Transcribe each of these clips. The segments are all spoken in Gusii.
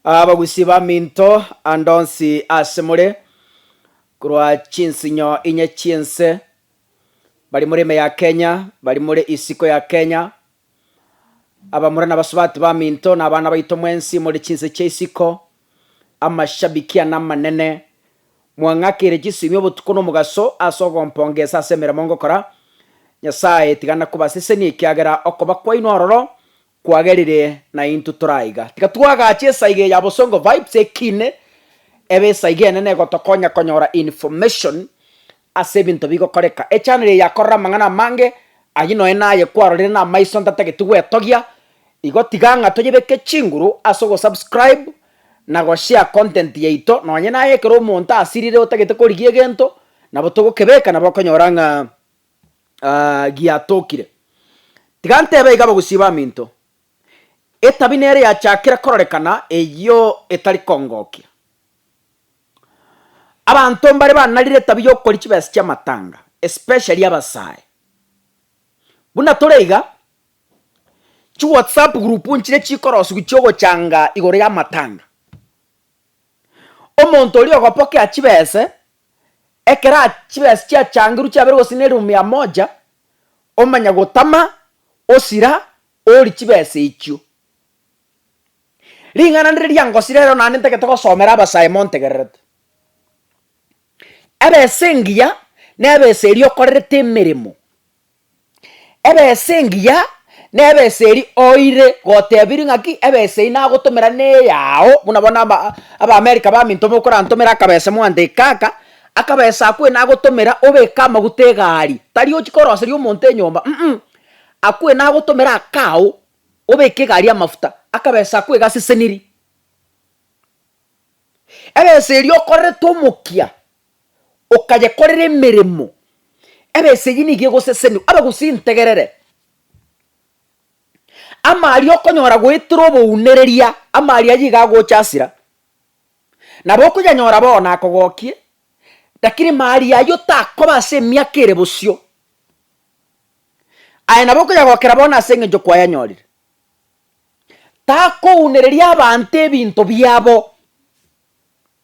Abagusi baminto, ande onsi aase more, korwa chinsinyo inye chi'ense, bari more ime ya Kenya, bari more isiko ya Kenya, abamura na abasubati baminto, na abana baito mwensi more chinse chia isiko, amashabiki ane amanene, mwang'akeire chisiimio obotuko na omogaso ase ogompongesa ase emeremo ngokora. Nyasae, tiga nakobasesenie ekiagera okoba kwaino ororo Kwagerire naintwe tore aiga. Tiga twagache esaiga eye ya Bosongo Vibes ekine ebe esaiga enene egotokonya konyora information ase ebinto bigokoreka. Echannel eye yakorora amang'ana amange, ayio nonya naye kwarorire namaiso ntatageti gwetogia, igo tiga ng'a toyebeke chinguru ase ogosubscribe na goshare content yaito nonya naye ekero omonto asirire otagete korigia egento nabo togokebeka nabo okonyora ng'a giatokire. Tiga ntebe iga abagusii baminto, etabi nere yachakire kororekana eyio etari kongokia. Abanto mbare banarire etabi y'okoria chibesa chi'amatanga, especially abasae. Buna tore iga, chi whatsapp group nchire chikorosiwa chi'ogochanga igoro y'amatanga. Omonto oria ogopokea chibese, ekero chibesa chiachangerwe chiabeire gose ne elfu mia moja, omanye gotama osira ori chibesa echio. Ring'ana ndire riangosire ero naende ntagete gosomera abasae montegererete. Ebesa engiya, nebesa eria okorerete emeremo Ebesa engiya nebesa eri oire gotebirie ng'aki ebesa eyi nagotomera neyao buna bono aba abaamerika baminto mokorantomera akabesa moante eke kaka, akabesa ako ena agotomera obeke amaguta egari, tari ochi koroseria omonto enyomba um ako ena agotomera akao obeke egari amafuta, akabesa ako iga aseseniri. Ebesa eria okorerete omokia okayekorera emeremo, ebesegi nigo egoseseniwa, abagusi integerere, ama aria okonyora goetera obounereria, ama aria yigo agocha asira, nabo okonyanyora bono akogokie, rakini mali aywo takoba ase emiaka ere bosio, aye nabo okonyagokera bono ase eng'encho kwayanyorire. Takounereria abanto ebinto biabo.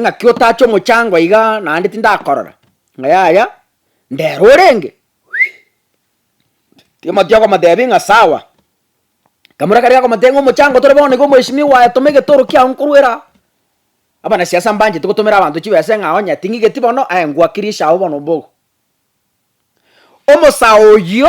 ng'aki otache omochango iga naende tindakorora, ng'a yaya ndero orenge Timothy okomotebia ng'a sawa, ekamura karia gakomotebia ng'a omochango tore bono iga omweshimiwa oye toma egetoro kiago nkorwere aa, abanasiasa mbancheti gotomera abanto chibesa ng'a onye ting'igeti bono aye ngwakirisha agwo bono mbogo. Omosae oyio.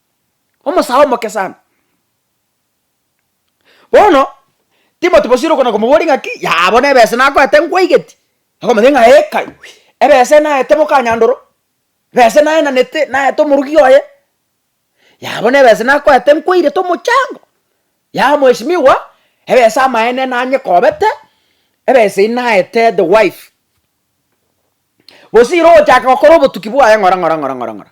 omosae omoke sana. Bono Timothy bosire okona komoboria ng'aki yaya bono ebese nakoete nkwaigeti, okomotebia ng'a ee kai, ebese naete boka nyandoro, ebese naenanete naete omorugi oye, yaya bono ebese nakoete nkwairete omochango, yaya mweshimiwa, ebese amaene nanyekobete, ebese eyi naete the wife. Bosire ogochaka gokora obotuki bwaye ng'ora ng'ora ng'ora ng'ora ng'ora.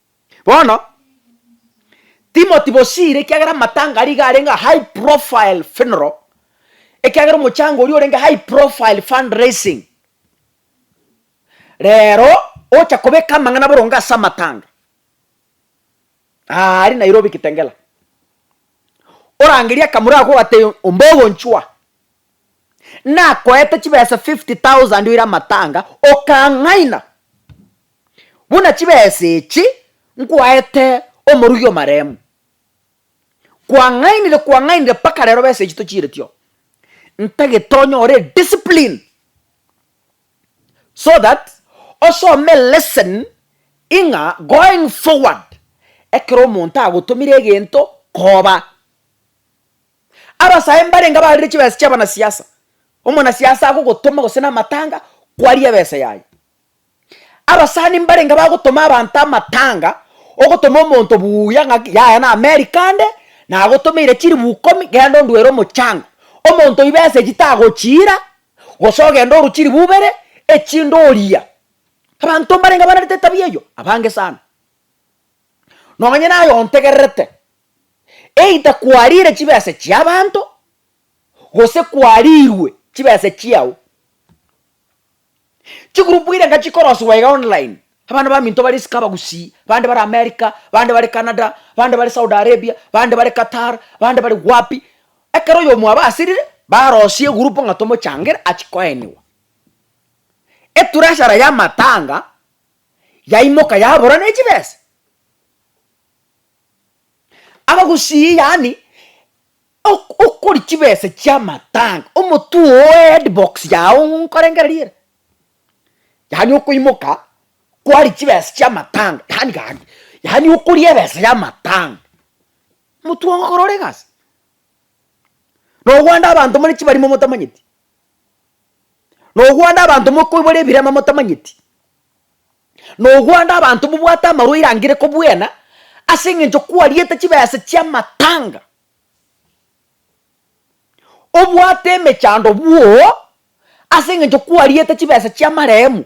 Bono Timothy bosiire ekiagera amatanga aria iga arenge a high profile funeral, ekiagera omochango oria orenge high profile fundraising. Rero ocha kobeka amang'ana boronge ase amatanga aaria Nairobi Kitengela, orangerie akamura ako ogatebia ombogonchwa nakoete chibesa fifty thousand oire amatanga, okang'aina. Buna chibesa echi nkwaete omorugi omaremu, kwang'ainire kwang'ainire mpaka rero besa echi tochiireti oo. Ntagete onyore ediscipline so that osome lesson ing'a going forward ekero omonto agotomire egento koba. Abasae mbarenge abarire chibesa chi'abanasiasa, omonasiasa agogotoma gose namatanga kwarie ebesa yaye. Abasani mbarenge bagotoma abanto amatanga, ogotoma omonto buya ng'aki yaya na America nde, nagotomeire chilibu ikomi genda onduere omochango. Omonto oyio besa echi tagochiira, gose ogende orwe chilibu ibere, echinde oriya. Abanto mbarenge banerete etabia eyio, abange sana. Nonye naye ontegererete, either kwariire chibesa echia abanto, gose kwariirwe chibesa chiao. Chigroup irenga chikorosiwa iga online, abana baminto bare isiko abagusii, bande bare America, bande bare Canada, bande bare Saudi Arabia, bande bare Qatar, bande bare wapi, ekero oyomo abasirire, barosie egroup ng'a tomochangere achie koeniwa. Etreasurer y'amatanga yaimoka yabora ne chibesa, abagusii yaani Ok okori chibesa chiamatanga omotwe oo headbox yao nkorengereria ere yaani okoimoka kwari chibesa chiamatanga yaani gaki yaani okoria ebesa ya matanga motwe oo korora egasi nogwanda abanto more chibarimo motamanyeti nogwanda abanto mokoibora ebirema motamanyeti nogwanda abanto mobwate amarwaire angire kobwena aseng'encho kwariete chibesa chiamatanga obwate emechando bwoo ase eng'encho kwariete chibesa chi'amarehemu,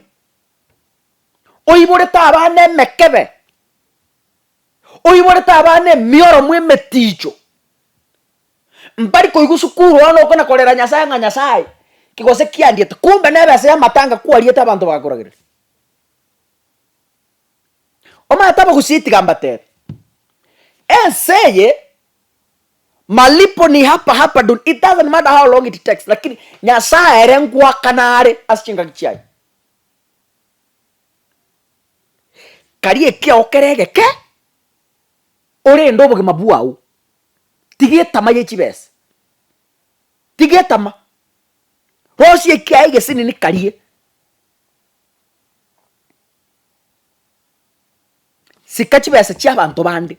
oiborete abana emekebe, oiborete abana emioromo emeticho, mbari koigwa sukuru bono okana korera Nyasaye ng'a Nyasaye ki gose kiandiete, kumbe nebesa y'amatanga kwariete abanto bakoragereti. Omanyete abagusii tiga mbateebe, ense eye malipo ni hapa hapa duni, it doesn't matter how long it takes, lakini Nyasaye ere ngoakana are ase chingaki chiaye. Kari ekiao kere egeke orende obogima bwao, tiga etama ye chibesa, tiga etama, rosia ekiaye egesinini karie. Sika chibesa chiabanto bande,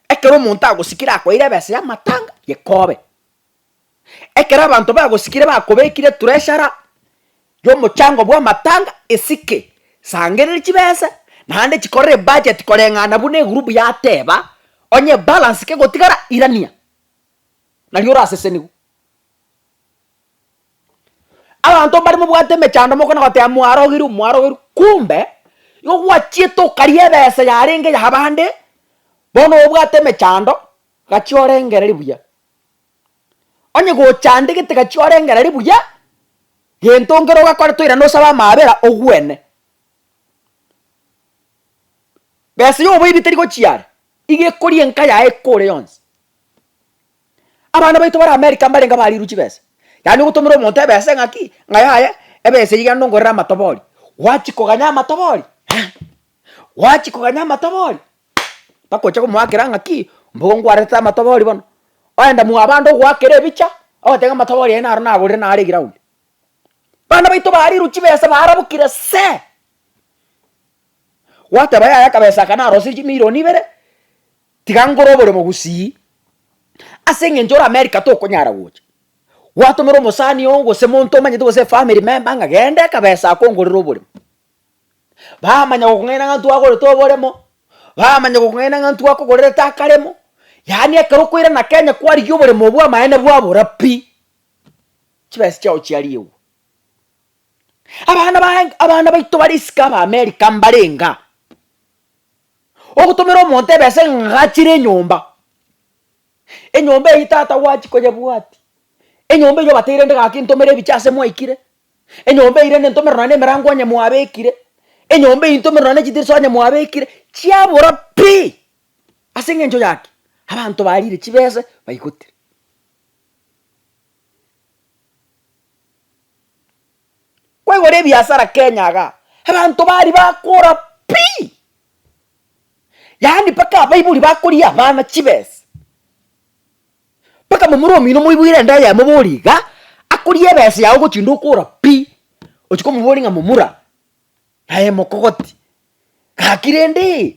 ekero omonto agosikire akoeire ebesa y'amatanga, yekobe. Ekero abanto bagosikire bakobekire treasury y'omochango bw'amatanga, esike, sangereria chibesa naende chikorere ebudget koreng'ana buna egurubu yateba, onye ebalance kegotigara irania, nario orasesenigwe. Abanto mbare mobwate emechando mokona goteba mwarogerwe mwarogerwe kumbe igo gwachiete okaria ebesa yarenge ya abande bono obwate emechando gachia orengereri buya. Onye gochandegete gachia orengereri buya gento nkere ogakore toira nosabe amaabera ogwene. Besa ya oboibi teri gochia are iga ekorie enka yaye ekore yonsi. Abana baito bare Amerika mbarenge abariirwe chibesa, yaani ogotomera omonto ebesa eng'aki ng'a yaya ebesa eyio genda ongorere amatobori. Gwachi koganya amatobori? Aa! Gwachi koganya amatobori? Mpaka oche komoakera ng'aki, mbuya ngwarete amatobori bono. Oenda mwabande ogoakera ebicha, ogoteba ng'a amatobori aye naro nagorire naro eground. Bana baito bariirwe chibesa barabukire see! Gwateba yaya akabesa aka narosirie chimirioni ibere, Tiga nkore oboremo gusii. Ase engencho ore America tokonyara gocha, gwatomera omosani oo gose monto omanyete gose efamiri memba ng'a genda ekabesa akongorere oboremo. Bamanya gokong'aina ng'a ntwagorete oboremo, bamanya gokong'aina ng'a ntwakogorerete akaremo, yaani ekero okoirana Kenya kwarigia oboremo bw'amaene bwabora pi, chibesa chiao chiariegwa. Abana baye abana baito bare isiko aba America mbarenge aa. Ogotomera omonto ebesa ng'achire enyomba, enyomba eyio tata gwachi koyebwati, enyomba eyio obateire rende gaki ntomere ebiche ase mwaikire, enyomba eyio rende ntomere nonya na emerango onye mwabekire, enyomba eyio ntomere nonya na echidirisha onye mwabekire, chiabora pi! Ase eng'encho yaki, abanto barire chibese baigotire. Kwegora ebiasara Kenya igaa, abanto bari bakora pii, yaani mpaka abaibori bakoria abana chibesa, mpaka momura omino omoiboire ende aye amoborie igaa, akoria ebesa yago ogochi inde okora pii, ochia komoboria ng'a momura, aye mokogoti, gaki rende.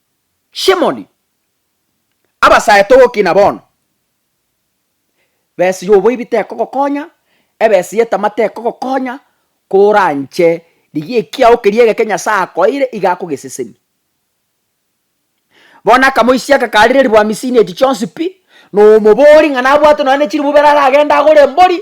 Simoni, abasaete ogokina bono, besi y'oboibi tekogokonya, ebesi y'etama tekogokonya, koranche rigia ekiao keria egeke Nyasae akoeire, iga akogeseseni. Bono akamoisia agakaarera ribua misini echi chionsi pi, na omobori ng'a nabwate nonya ne chiribu ibere aragende agore embori.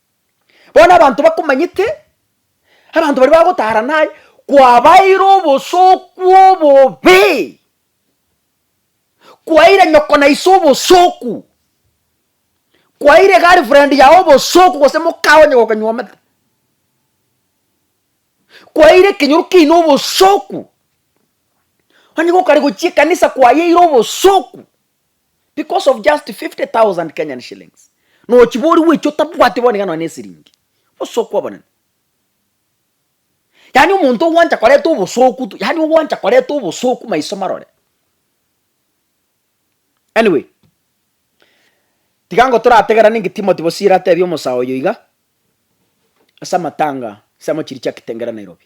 Bono abanto bakomanyete, abanto baria bagotara naye, kwabaeire obosoku obobe, kwaeire nyoko na ise obosoku, kwaeire girlfriend yago obosoku gose mokao onye gokonywomete, kwaeire ekenyoro kiaino obosoku, onye gokare gochia ekanisa kwayeire obosoku. because of just 50,000 Kenyan shillings nochiba ori gwecha otabwati bono iga nonya nesiringi obosooku obonene. Yaani omonto ogwancha koreta obosooku tu yaani ogwancha koreta obosooku maiso marore. Anyway, tiga ngotorategerane inki Timothy Bosire atebia omosaa oyo iga ase amatanga ase amochiri chia Kitengela Nairobi.